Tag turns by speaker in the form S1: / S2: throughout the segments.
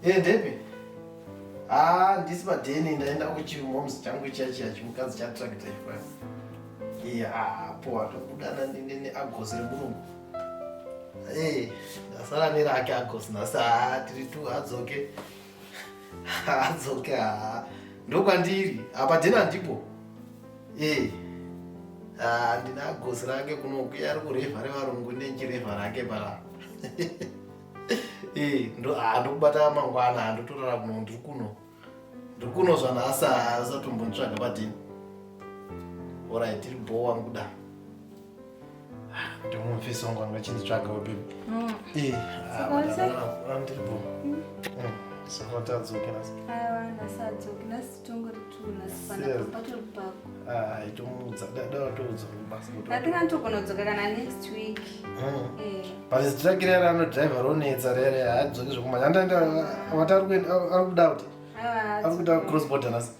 S1: Hey, Debbie. Ah, ndisi padeni ndaenda kuchimoms changu chiya chiya chimukadzi chatracta ipa. Iya, ah, po watokudana nini agosi remurume. Eh, ndasara nerake agosi nasa ah, tiri tu adzoke. Adzoke ah. Ndokwandiri, apa dena ndipo. Eh. Ah, ndina agosi rake kunokuya ari kurevha revarungu nenjirevha rake para. Eh, ndo ah, ndokubata mangwana handotorara kuno ndiri kuno ndiri kuno zvanhasi asatombonitsvaga padini orit tiri bho wangu kuda ndimumfisi wangu anga chinditsvaga wabebe Mm. Eh, ah, Saka madam, wese? ah, ah, ndiri bho Mm, saka tadzoke nasi Aiwa, ndasadzoki, ndasi- pazitiragire yari anodriver ronetsa rere haadzoki zvekumanya andaendawati ari kuda kuti ari kuda cross border nasi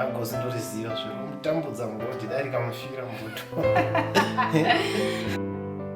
S1: agosi ndoriziva zviromutambudza mugoti dai rikamufira mubuto